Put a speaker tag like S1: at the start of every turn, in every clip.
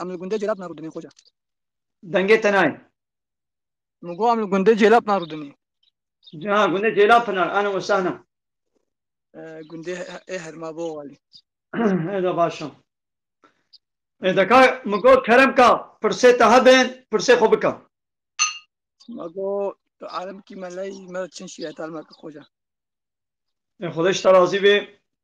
S1: Em li gundê Cêlab narûdinê xoca. Dengê
S2: te nayê. Min
S1: got em li gundê Cêlab narûdinê. Ha
S2: gundê Cêlab pinar ana we sehna.
S1: Gundê ê herma bo walî. Hêda
S2: baş e. Ê deka min got kerem ka pirsê te hebên pirsê xwe bike. Ma
S1: got tu alim kî me ley me çin şîyetdar me ki xoca. Ê
S2: xwedê ji te razî bê.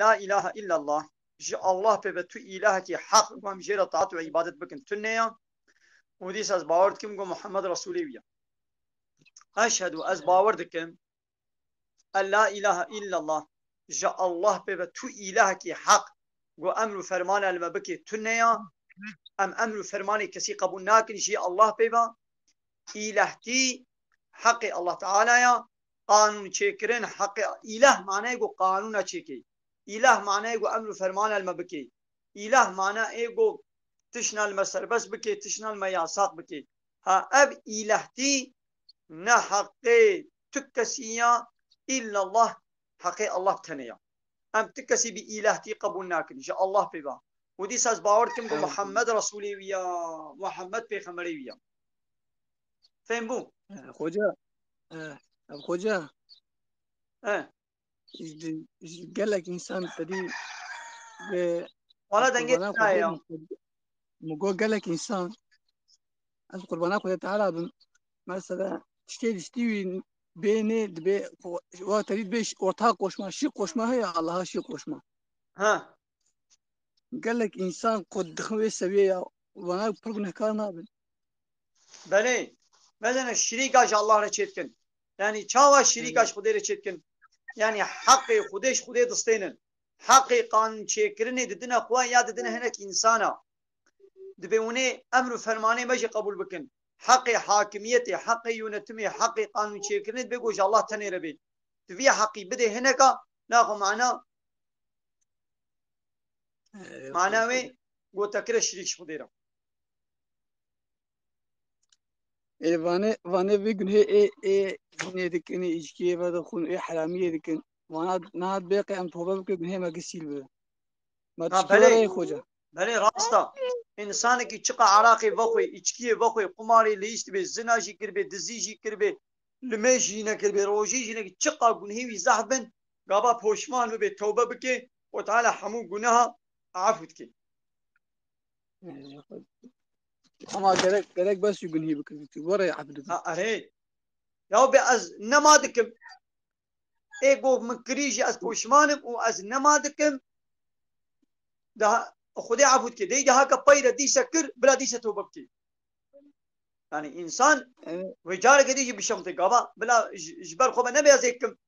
S2: La îlahe îllallah, ji Allah pê be tu îlahekî heq ku em jê re taat û îbadet bikin tu nêya û dîs ez bawer dikim ku Muhammed Resûlê wî ye. Eşhedû, ez bawer dikim en la îlahe îllallah, ji Allah pê be tu îlahekî heq ku emr û fermana li me bikê tu nêya, em emr û fermanê kesî qebûl nakin jî Allah pê be, îlahtî heqê Allah Teala ye qanûnçêkirin heqê îlah mane ku qanûna çêkê. Îlah mane ku emr û fermana li me bikê. Îlah mane ê ku tişna li me serbest bikê, tişna li me yasaq bikê. Ha ev îlahtî ne heqê tu kesî ya îllallah heqê Allah tenê ya. Em tu kesî bi îlahtî qebûl nakin ji Allah pê be. Û dîsa ez bawer dikim ku Muhammed Resûlê wî ya, Muhammed pêxemberê wî ya. Fêm bû. Xoca,
S1: ev xoca ji gelek însan tedî
S2: Wala dengê tiraye. Min
S1: got gelek însan ez qurbana xwe teala bim. Mesela tiştê diştî wî bênê dibê wa tedî dibê orta qoşma, şî qoşma heye Allaha şî qoşma. Ha. Gelek însan ku dixin wê seviyê ya wana pir gunehkar nabin. Belê,
S2: medene şirîka ji Allah re çêdikin. Yanî çawa şirîka ji Xwedê re çêdikin? Yanî heqê Xwedê ji Xwedê distênin. Heqê qanûnçêkirinê didine xwe ya didine hinek însanan. Dibê hûnê emr û fermanê me jî qebûl bikin. Heqê hakimiyetê, heqê yonetimê, heqê qanûnçêkirinê dibê ku ji Allah tenê re bê. Tu vî heqî bidê hineka, naxwe mana Mana wê gotekire şirîk ji xwe dêra.
S1: Ê vane vane vê gunhê ê ê gunê dikin ê îcikiyê ve dixwin ê heramiyê dikin. Vana niha bêqe em tobe bikin gunhê me gisîl bibe. Ma Ha, tiştê belê. were ê xoca. Belê rasta.
S2: Însanekî çiqa Iraqê vexwe, îçkiyê vexwe, qumarê lîs dibê, zina jî kiribê, dizî jî kiribê, li me jî nekiribê, rojê jî nekiribê, çiqa gunhê wî zehf bin, gava poşman bibe tewbe bike xwe teala hemû guneha efu dike.
S1: Ama gerek gerek bes û gunhî bikin. Tu were efu dikin. Erê
S2: ya be ez nema dikim. Ê gov min kirî jî ez poşmanim û ez nema dikim. Daha Xwedê efu dike. Dey daha ke peyre dîse kir bila dîse tewbe bike. Yani insan wê careke dî jî bişemte gava bila ji ber xwe ve nebe ez ê kim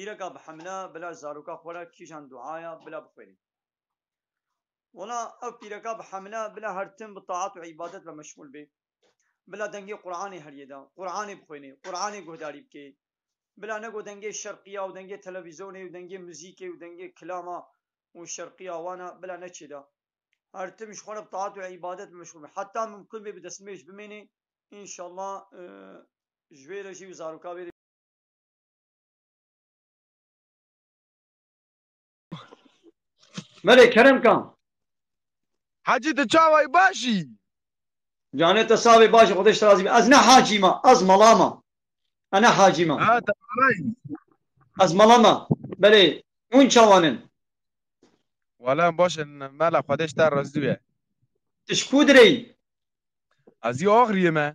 S2: Îreka bi hemle bila zaroka xwe re kîjan duaya bila bixwêne. Wala ev pîreka bi hemle bila her tim bi taat û îbadet ve meşxûl be. Bila dengê Quranê heriyê de, Quranê bixwêne, Quranê guhdarî bike. Bila ne got dengê şerqiya û dengê televîzonê û dengê muzîkê û dengê kilama û şerqiya wan e bila neçê de. Her tim ji xwe re bi taat û îbadet ve meşxûl be. Heta mimkûn be bi destnûêj bimêne. Înşallah ji wê re jî û zaroka wê re jî. Melê kerem kan.
S3: Hacî tu çawayî baş î? Canê
S2: te savê baş î xwedêş razî be. Ez ne hacî ma, ez mala ma. Ez ne hacî ma. Ha te malayî.
S3: Ez mala
S2: ma. Belê, hûn çawan in?
S3: Wala em baş in mela xwedêş te razî be. Tu ji ku
S2: direyî?
S3: Ez î Axriyê me.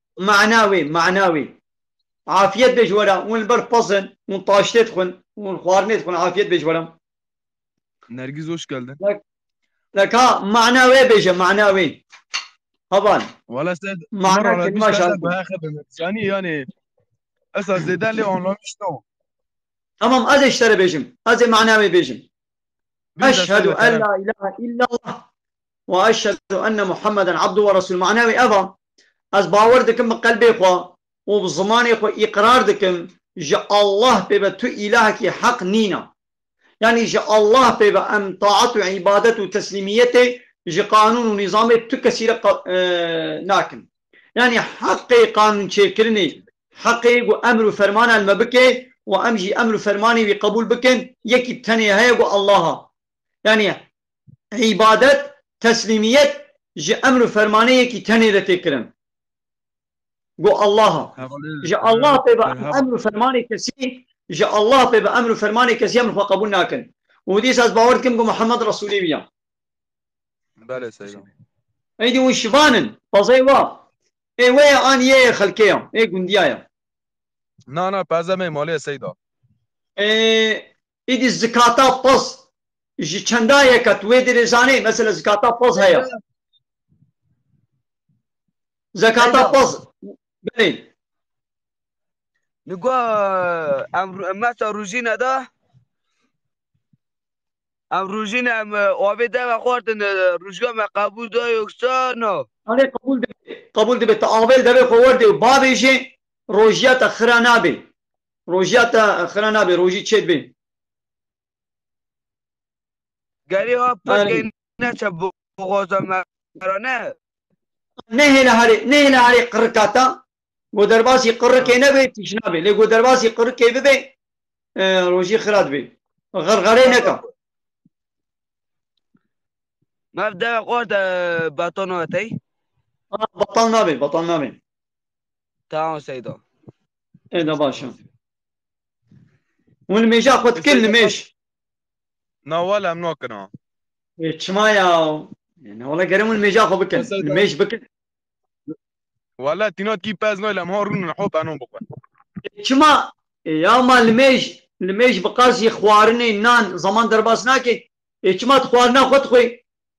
S2: Mana wê, mana wê. Afiyet be ji we re, hûn li ber pez in, hûn taştê dixwin, hûn xwarinê dixwin, afiyet be ji we re.
S3: Nergîz hoş geldin. Li ka
S2: mana wê bêje, mana wê. Heval. Wala se
S3: Mana kelima
S2: şansê. Bayağı
S3: xebim. Yani yani esa zêde lê anlamış no. Tamam
S2: ez eştere bêjim. Ez ê mana wê bêjim.
S3: Eşhedü en la
S2: ilahe
S3: illallah
S2: Wa eşhedu enne Muhammeden abdu wa resûl mana wî ev a, Ez bawer dikim bi qelbê xwe û bi zimanê xwe îqrar dikim ji Allah pê ve tu îlahekî heq nîna. Yanî ji Allah pê ve em taet û îbadet û teslîmiyetê ji qanûn û nîzamê tu kesî re nakin. Yanî heqê qanûnçêkirinê, heqê ku emr û fermana li me bike û em jî emr û fermanê wî qebûl bikin yekî tenê heye ku Allah a. Yanî îbadet, teslîmiyet ji emr û fermanê yekî tenê re tê kirin. Go Allaha. Ji Allah pê bi emr û fermanê kesî ji Allah pê bi emr û fermanê kesî emr xwe qebûl nakin. Û dîsa ez bawer dikim ku Muhammed Resûlê wî ya.
S3: Belê Seyda. Êdî hûn
S2: şivan in. Pezey wa. Ê wê ye an yê yê xelkê ya. Ê gundiya ya. Na
S3: na peze mê malê Seyda. Ê
S2: Îdî zikata pez ji çenda ye ke tu wê derê zanê? Mesela zikata pez heye. Zekata pez. Belê.
S4: Li go em mesa rojîne de em rojîne em avê deve xwartin rojga me qebûl da yoksa na. Alê qebûl dibe.
S2: Qebûl dibe. Tu avê li devê xwe werdê û bavêjê rojiya te xira nabê. Rojiya te xira nabe rojî çêd bê.
S4: Gerî ha pirkê neçe boxoza me ra ne. Nehêle
S2: herê nehêle herê qirika te go derbasî qirikê nebe tîşna bê lê go derbasî qirikê bibe rojî xira dibê. Xirxerê neke.
S4: Mev dewe xort e beton vatey. Batal
S2: nabê batal nabê. Tamam
S4: Seydo. E da
S2: başa. Hûn nimêja xwe dikin nimêj. Na
S3: wala em nakin ha. E çima
S2: ya? E, Na wala gerim hûn nimêja xwe bikin. Seydo. Nimêj bikin. Wala
S3: tîna tî pez nayla em ha rûnin ho benon bixwe. E çima?
S2: E ya ma nimêj, nimêj bi qasî xwarinê, nan, zaman derbas nake. E çima tu xwarina xwe dixwî?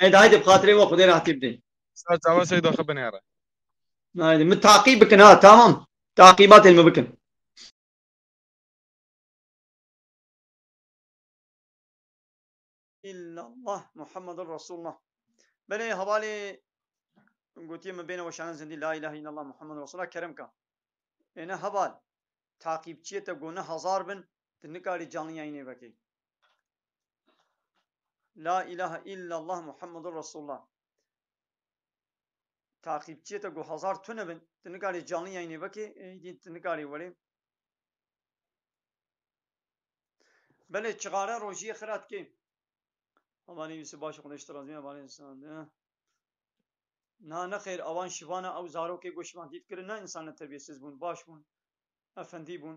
S3: Ed
S2: haydi bixatirê we xudê rahatî bidê. Sar çawa seyda
S3: xwe binêre. Haydi min
S2: taqîb bikin ha tamam. Taqîbatên min bikin. İllallah Muhammedur Resulullah. Belê hevalê gotiye min bêne weşanan zindî la ilahe illallah Muhammedur Resulullah kerem ka. Êne heval taqîbçiyê te gona hezar bin tu nikarî canlî yayînê vekî. La ilahe illallah Muhammedur Resulullah. Takipçiye te gu hazar tune bin. Ti nikarî canlı yayınê vekê, êdî ti nikarî werê. Belê çixare rojiyê xira dikê. Amanê Yusuf baş xwedê ji te razî be balê sade. Na nexêr awan şivana ew zarokê gu şivan dît kirin ne însan ne tebiyesiz bûn, baş bûn, efendî bûn.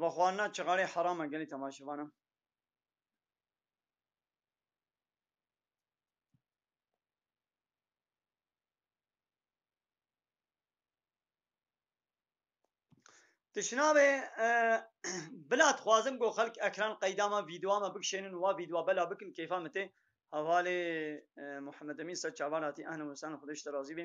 S2: Vexwana çiqarê herama gelê temaşevana. Tişinavê bila dixwazim ku xelk ekran qeyda me vîdeoa me bikişênin û wa vîdeoa bela bikin kêfa min tê hevalê Muhemed Emîn ser çavan hatî ehna wisan xwedê ji te razî bê.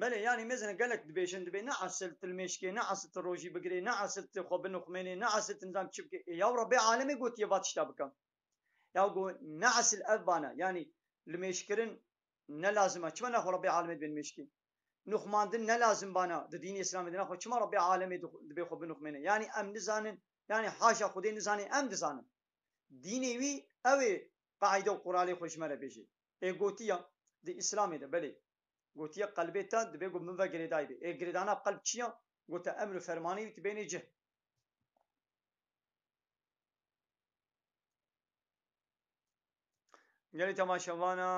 S2: Belê yanî mêzine gelek dibêjin dibê ne esil til mêşkê ne esil til rojî bigirê ne esil tu xwe binuxmênê ne esil tu nizam çi bikê ê yaw re bê alemê gotiye va tişta bike ya go ne esil ev bane yanî li mêşkirin ne lazim e çima ne xwe re bê alemê dibê nimêşkê nuxmandin ne lazim bana di dînê îslamê de ne xwe çima re bê alemê dibê xwe binuxmêne yanî em nizanin Yanî haşa Xwedê nizanê em dizanin. Dînê wî ew ê qeîde û quralê xwe ji me re bêjê. Ê gotiya, di Îslamê de belê. Gotiye qelbê te divê ku min ve girêdayî bê. Ê girêdana qelb çi ya? Gote emr û fermanê wî tu bênê cih. Gelê temaşevana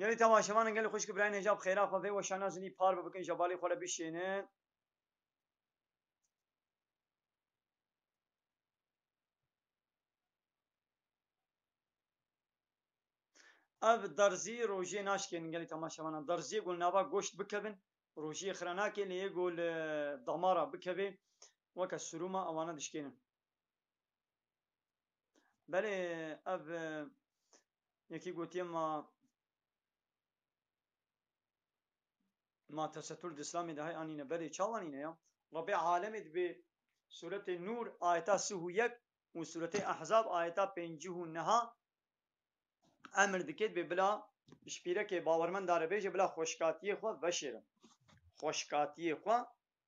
S2: Gelê temaşevanan gelê xwişk birayên hêja bi xêra xwe vê weşana jinî par bibikin jebalê xwe re bişênin. Ev derzî rojê naşikênin gelê temaşevanan. Derziyê ku li nava goşt bikevin rojiyê xira nake lê yê ku li damara bikevê weke surûma ewana dişkênin. Belê ev yekî gotiye ma ma tesetur di îslamê de hay anîne belê çawa nîne ya? Rebê alemê di vê sûretê Nûr ayeta sih û yek û sûretê Ehzab ayeta pêncîh û neha emir dike di vê bila ji pîrekê bawermenda re bêje bila xweşkatiyê xwe veşêrin. Xweşkatiyê xwe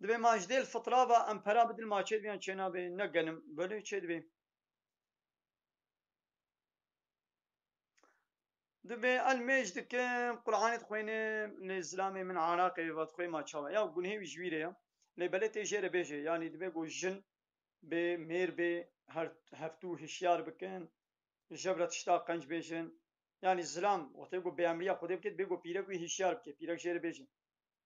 S2: Dibê ma ji dêl fitrava em pera bidin ma çê dibiyan çê nabê ne genim belê çê dibê. Dibê el mêj dikim Qur'anê dixwênim lê zilamê min Iraqê va dixwê ma çawa ya gunhê wî ji wî rê ya lê belê tê jê re bêjê yanî dibê ku jin bê mêr bê her heftû hişyar bikin jev re tişta qenc bêjin yanî zilam wextê ku bêemriya Xwedê bike dibê ku pîrek wî hişyar bike pîrek jê re bêjin.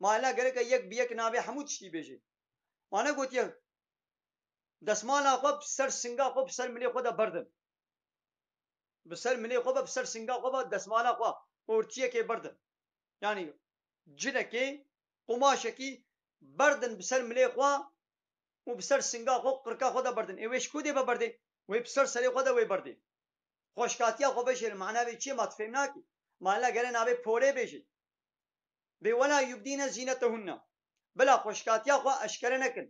S2: Ma hela gereke yek bi yek nabê hemû tiştî bêjê. Ma negotiye desmala xwe bi ser singa xwe bi ser milê xwe de berdin. Bi ser milê xwe ve bi ser singa xwe ve desmala xwe ortiyekê berdin. Yanî cinekê qumaşekî berdin bi ser milê xwe û bi ser singa xwe û qirka xwe de berdin. Ê wê ji ku dê ve berdê? Wê bi ser serê xwe de wê berdê. Xweşkatiya xwe vejêr mana vê çi ye ma tu fêm nakî. Ma hela gere nabê polê bêjê. Bê wela yubdîne zînete hunna. Bila xweşkatiya xwe eşkere nekin.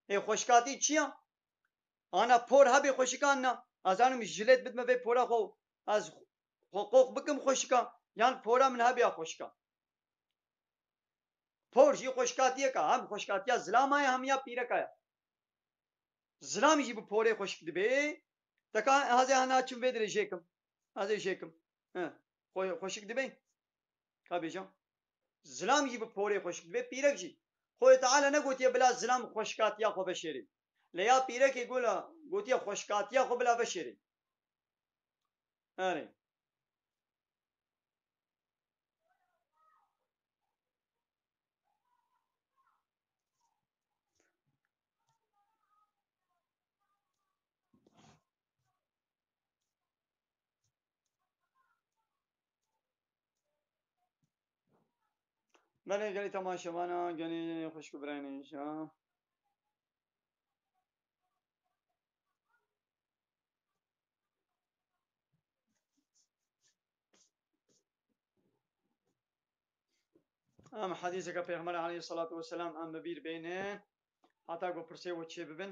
S2: Ê xweşkatî çi ya? Ana por hebê xweşikan na. Ez anim min jilêt bidime vê pora xwe û ez xwe qox bikim xweşika yan pora min hebê ya xweşika. Por jî xweşkatiyek a. Hem xweşkatiya zilama ye hem ya pîreka ye. Zilam jî bi porê xweşik dibê. Teka hezê hana çim vê dirêjê kim. Ez ê jêkim. He. Xwe xweşik dibe. Ka bêja. Zilam jî bi porê xweşik dibe, pîrek jî. Xwedê Teala negotiye bila zilam xweşikatiya xwe veşêrê. Lê ya pîrekê gola gotiye xweşikatiya xwe bila veşêrê. Erê. Belê gelê temaşevana gelê xwişk û birayên hêja. Em hedîseke Pêxember aleyh salatu weselam em bi bîr bêne heta ku pirsê û çê bibin.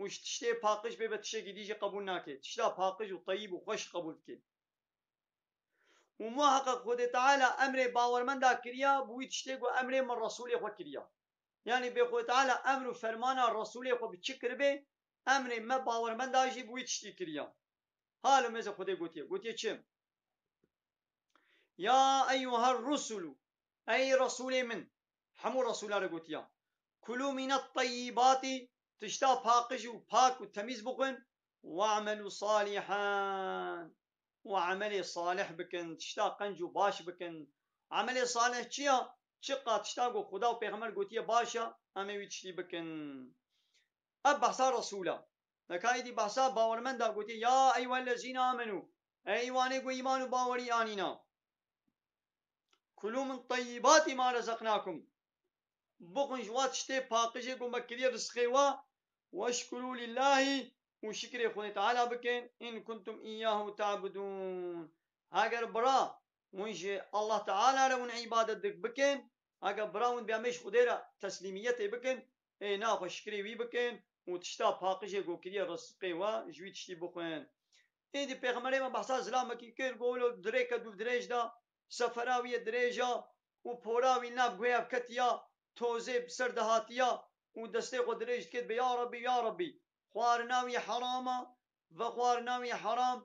S2: û ji tiştê paqij bê be tiştekî dî jî qebûl nake. Tişta paqij û teyîb û xweş qebûl dike. Û muheqeq Xwedê Teala emrê bawermenda kiriya bi wî tiştê ku emrê min Resûlê xwe kiriya. Yanî bê Xwedê Teala emr û fermana Resûlê xwe bi çi kiribê, emrê me bawermenda jî bi wî tiştî kiriya. Ha li mêzê Xwedê gotiye. Gotiye çi? Ya eyyuher rusulu, ey Resûlê min. Hemû Resûlan re gotiya. Kulû mînet teyîbatî, tişta paqij û pak û temîz bixwin, we'melû salîhan û emelê salih bikin, tişta qenc û baş bikin. Emelê salih çi ya? Çiqad tişta ku Xuda û pêxember gotiye baş e, em ê wî tiştî bikin. Ev behsa Resûl e. Li ka êdî behsa bawermend e, gotiye, Ya eyyuhellezîne âmenû, Ey wanê ku îman û bawerî anîne! Kulû min teyîbatî ma rezeqnâkum, Bixwin ji wa tiştê paqijê ku me kiriye bi sixê we, Weşkurû lillahî û şikrê Xwedê Teala bikin, in kuntum îyyahu te'budûn. Heger bira win ji Allah Teala re win îbadet dik bikin, heger bira win bêamê ji Xwedê re teslîmiyetê bikin, êna xwe şikrê wî bikin û tişta paqijê ku kiriye bi sixê we ji wî tiştî bixwin. Êdî pêxemberê me behsa zilamekî kir, got, Wilo di rêke dûvdirêj de sefera wî yê dirêj a û pora wî nav guhev ketiya tozê bi ser dihatiya û destê xwe dirêj dikê dibê ya Rabbî ya Rabbî xwarina wî heram a ve xwarina wî heram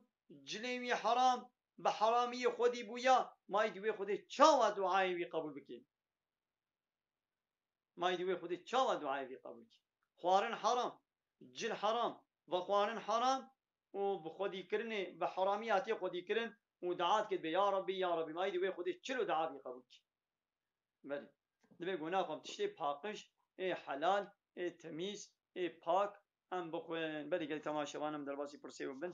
S2: cilên wî heram bi heramiyê xwedî bûya mayî di wê xwedê çawa duayê wî qebûl bikê mayî di wê xwedê çawa duayê wî qebûl bikê xwarin heram cil heram ve xwarin heram û bi xwedî kirinê bi heramî hatiye xwedî kirin û dua dikir dibê ya Rabbî ya Rabbî ma îdî wê Xwedê çilo dua bî qebûl kî. Belê. Dibê gona xwe bi tiştê paqij ê helal ê temîz ê pak em bixwin. Belê gelê tama şevan em derbasî pirsê û bin.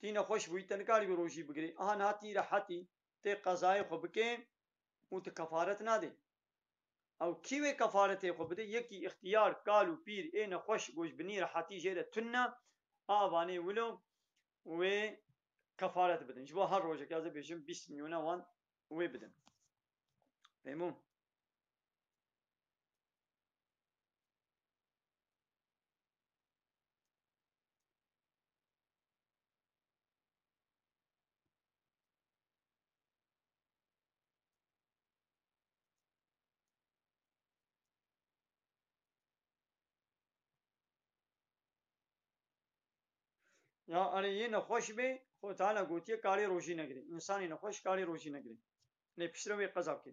S2: tî nexweş bûyî te nikarî bi rojî bigirî aha niha tî rehetî tê qezayê xwe bikê û tu kefaret nadê. Ew kî wê kefaretê xwe bidê yekî îxtîyar kal û pîr ê nexweş gojbinî rehetî jê re tun ne a vanê wilo wê kefaret bidin ji bo her rojekê ez ê bêjim bîst milyone wan wê bidin fêm bû. Ya erê yê nexweş bê xwe tane gotiye karê rojî negirê. Însanê nexweş karê rojî negirê. Lê piştre wê qeza bikê.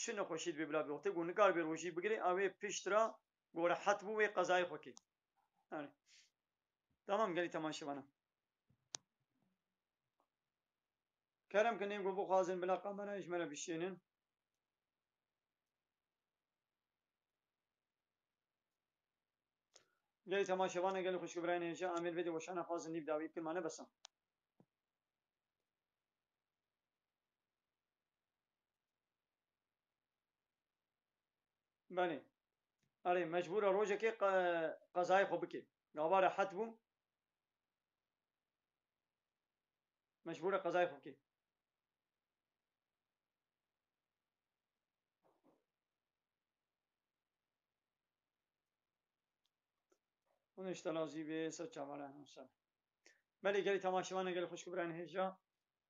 S2: çi nexweşî dibê bila bî xwe nikar bê rojî bigirê ew ê pişt ra ku rehet bû wê qezayê xwe kê. Yani. Tamam gelî temaşe bana. Kerem ki nê ku bixwazin bila kamerayê ji me re bişênin. Gelî temaşe bana gelî xweşik birayên hêja Amêr vê dê weşana xwazin nîv dawî bikir mane besa. Belê. Erê mecbûr e rojekê qezayê xwe bike. Gava rehet bû. Mecbûr e qezayê xwe bike. Hûn îştela zî bê ser çavale hemsal. Belê gelê temaşevan e gelê xweşik û birayên hêja.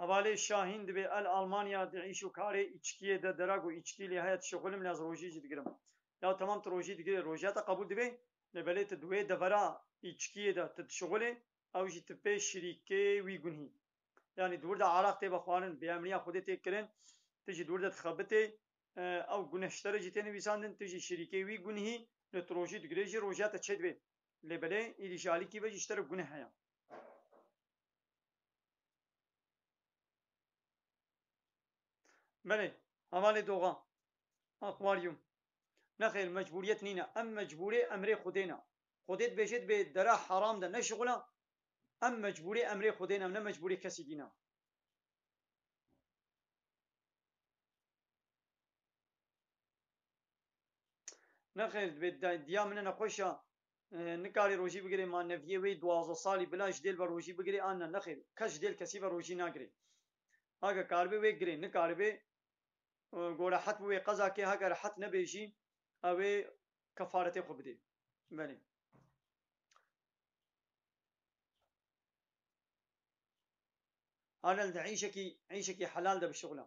S2: Hevalê Şahîn dibê el Almanya di îş û karê îçkiyê de dera ku îçkî lê heye dişuxilim lê ez rojî jî digirim. Ya temam tu rojî digirê rojîya te qebûl dibê lê belê tu di wê devera îçkiyê de tu dişuxilê ew jî tu pê şirîkê wî gunhî. Yanî di wir de araq tê vexwarin, bêemniya xwedê tê kirin, tu jî di wir de dixebitê, ew guneştere jî tê nivîsandin, tu jî şirîkê wî gunhî lê tu rojî digirê jî rojîya te çêdibê lê belê îdî ji alîkî ve jî ji te re guneh heye. Belê, hevalê doxan, akwaryum. Nexêr mecburiyet nîne, em mecburê emrê Xwedê ne. Xwedê dibêje dibê dera heram de neşixula, em mecburê emrê Xwedê ne, ne mecburê kesî dî ne. Nexêr dibê diya min e nexweş e, Nikarê rojî bigirê ma neviyê wê duwazdeh salî bila ji dêl ve rojî bigirê an ne nexêr kes ji dêl kesî ve rojî nagirê hage karibe wê girê nikaribe go rehet bi wê qeza kê hege rehet nebe jî ew ê kefaretê xwe bidê belê. Arel di îşekî îşekî helal de bişixula.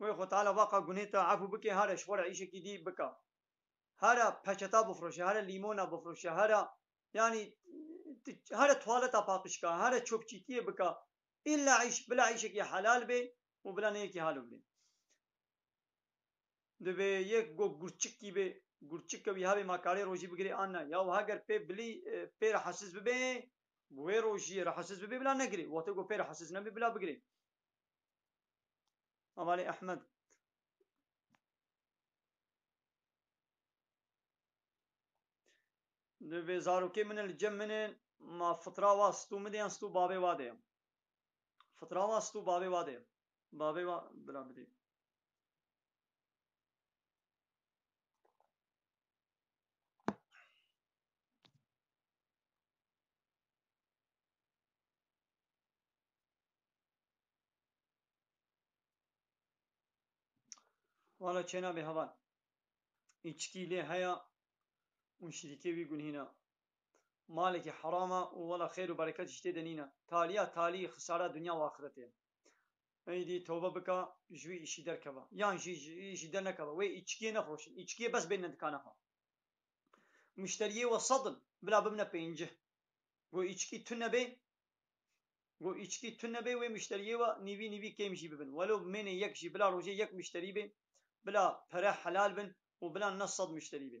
S2: Wê xwe teala vaqa gunê te efû bike here ji xwe re îşekî dî bike. Here peçeta bifroşe, here lîmona bifroşe, here yanî here tuwaleta paqijka, here çopçîtiyê bike. Îlle îş, bila îşekî helal bê û bila ne yekî halo bidê. Divê yek gog gurçikî bê, gurçik ke wî hebê ma karê rojî bigirê an ne. Ya wiha ger pê bilî pê re hesîs bibe Ku wê rojî rahatsiz bibê bila negirê. Wextê ku pê rahatsiz nebê bila bigirê. Avalê Ehmed. Di vê zarokê min e li cem min e ma fitra wa stû min de yan stû bavê wa de ye. Fitra wa stû bavê wa de ye. Bavê wa bila bidê. Wala çêna bê heval. Îçkî lê heya û şirîkê wî gunhîna. Malekî herama û wala xêr û berekat jî tê de nîna. Talîya talî xisara dinya û axirete ye. Eydî tewbe bika ji wî îşî derkeva. Yan jî ji wî îşî dernekeva. Wê îçkiyê nexweşin. Îçkiyê bes bênine dikana xwe. Muşteriyê we sed in, bila bibne pêncî. Got îçikî tu nebê, got îçikî tu nebê wê muşteriyê we nîvî nîvî kêm jî bibin. Welo bimêne yek jî, bila rojê yek muşterî bê, bila pere helal bin û bila ne sed muşterî bê.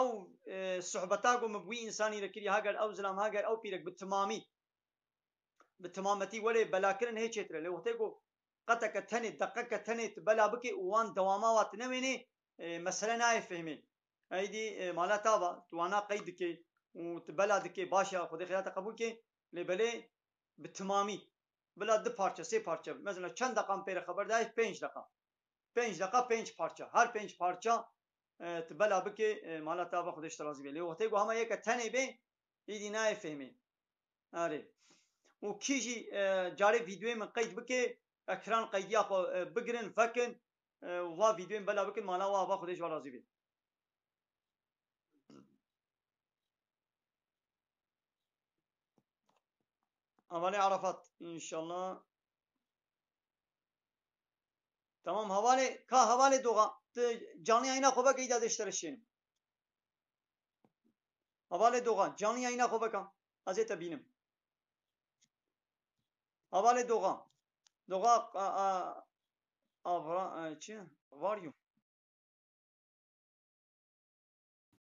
S2: ew sohbeta ku min bi wî însanî re kirî ha gel ew zilam ha gel ew pîrek bi timamî bi timametî welê belakirin hê çêtir e lê wextê ku qeteke tenê deqeke tenê tu bela bikê û wan dewama wa tu newênê mesele nayê fehmê eydî mala ta va tu wana qey dikê û tu bela dikê baş e xwedê xêra te qebûl kê lê belê bi timamî bila du parçe sê parçe bi mezana çend deqa min pê re xeber dayê pênc deqa pênc deqa pênc parça her pênc parça tu bela bikê mala te ava xwedê ji te razî bê. Lê wextê ku hema yeke tenê bê îdî nayê fêhmê. Arê. Û kî jî carê vîdeoyê min qeyd bikê, ekran qeydiya xwe bigirin, vekin û va vîdeoyê min bela bikin mala we ava xwedê ji we razî bê. Avalê Arafat, înşallah. Tamam hevalê ka hevalê doxa tu canlı yayına xo veke îda dê ji te re şênim. Hevalê doxa canlı yayına xo veke ez ê te bînim. Hevalê doxa doxa avra çi? Var you.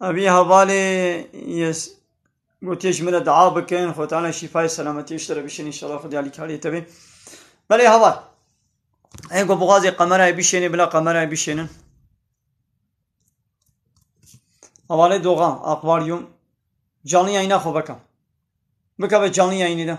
S2: Evî hevalê yes gotiye ji min re dua bikin xwe tane şîfayê selametiyê ji te re bişêne inşallah xwedî alîkariyê te bê. Belê heval. Ê ku bixwazê qemerayê bişênê bila qemerayê bişênin. Hevalê doxan, akvaryum. Canlı yayına xwe beka. Bika be canlı yayını da.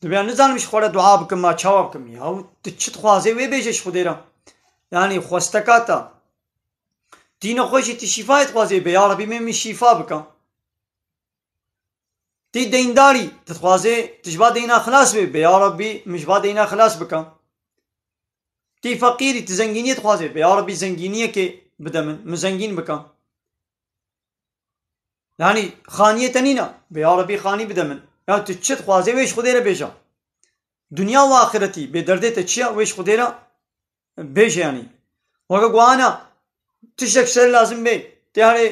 S2: Dibya nizanim ji xwara dua bikim ma çawa bikim ya tu çi dixwazê wê bêje ji xwedê re. Yani xwesteka te dîna xwe jî tu şîfayê dixwazê bê ya Rebî min min şîfa bike. Tî deyndarî, tu dixwazê tu ji ba deyna xilas bibî, bê ya Rabbî min ji ba deyna xilas bike. Tî feqîrî, tu zengîniyê dixwazê, bê ya Rabbî zengîniyekê bide min, min zengîn bike. Yanî xaniyê te nîne, bê ya Rabbî xanî bide min. Ya tu çi dixwazê wê ji Xwedê re bêje. Dinya û axiretî bê derdê te çi ye wê ji Xwedê re Bêje yanî weke ku ana tiştek ser lazim bê têarê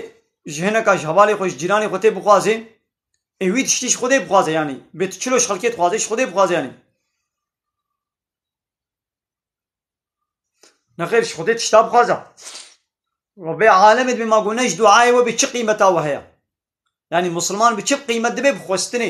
S2: ji hineka ji hevalê xwe ji cîranê xwe tê bixwazê ê wî tiştî ji xwedê bixwaze yanî bê tu çilo ji xelkê dixwazê ji xwedê bixwaze yanî. Nexêr ji xwedê tişta bixwaza we bê alemê dibê ma got ne ji duayê we bê çi qîmeta we heye. Yanî misilman bi çi qîmet dibê bi xwestinê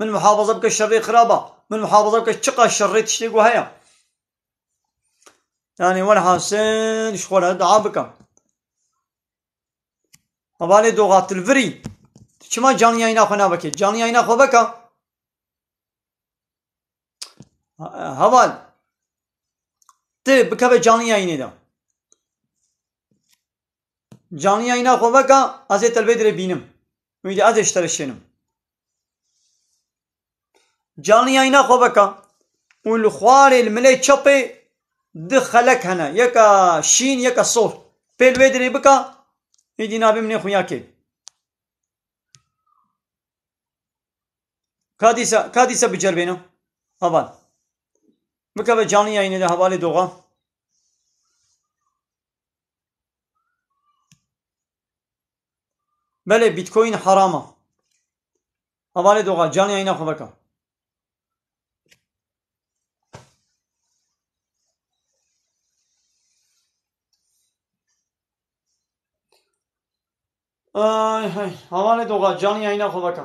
S2: Min muhafaza bike şerê xirab a. Min muhafaza bike çiqa şer rê tiştê ku heye. Yani welhasil ji xwe re dua bikim. Hevalê doxa tilvirî tu çima canî yayna xwe navekê? Canî yayna xwe veka. Heval tu bikeve canî yaynê de. Canî yayna xwe veka ez ê telvê dirê bînim. Wî de ez ê ji te re şênim. Canî yayna xwe veka û li xwarê li milê çepê du xelek hene yeka şîn yeka sor. Pê li wê dirê bika îdî nabê min ê xuya kê. Ka dîsa ka dîsa bi cerbêna. Heval. Bikeve canî yayinê de hevalê doxa. Belê Bitcoin heram a. Hevalê doxa canê eyna xwe veka. Ay hay, hevalê doxa canê eyna xwe veka.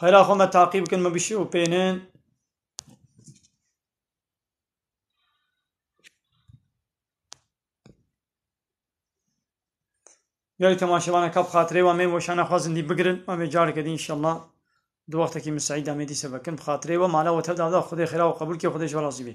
S2: Xêra xwe me taqî bikin me bişî û pênin. Gelî temaşevane kap xatirê we mê weşan ne xwazin dî bigirin me vê careke dî inşallah di wextekî min Seîd amê dî sebekin bi xatirê we mala we tev davda xudê xêra û qebûlkê xudê ji we razî bê.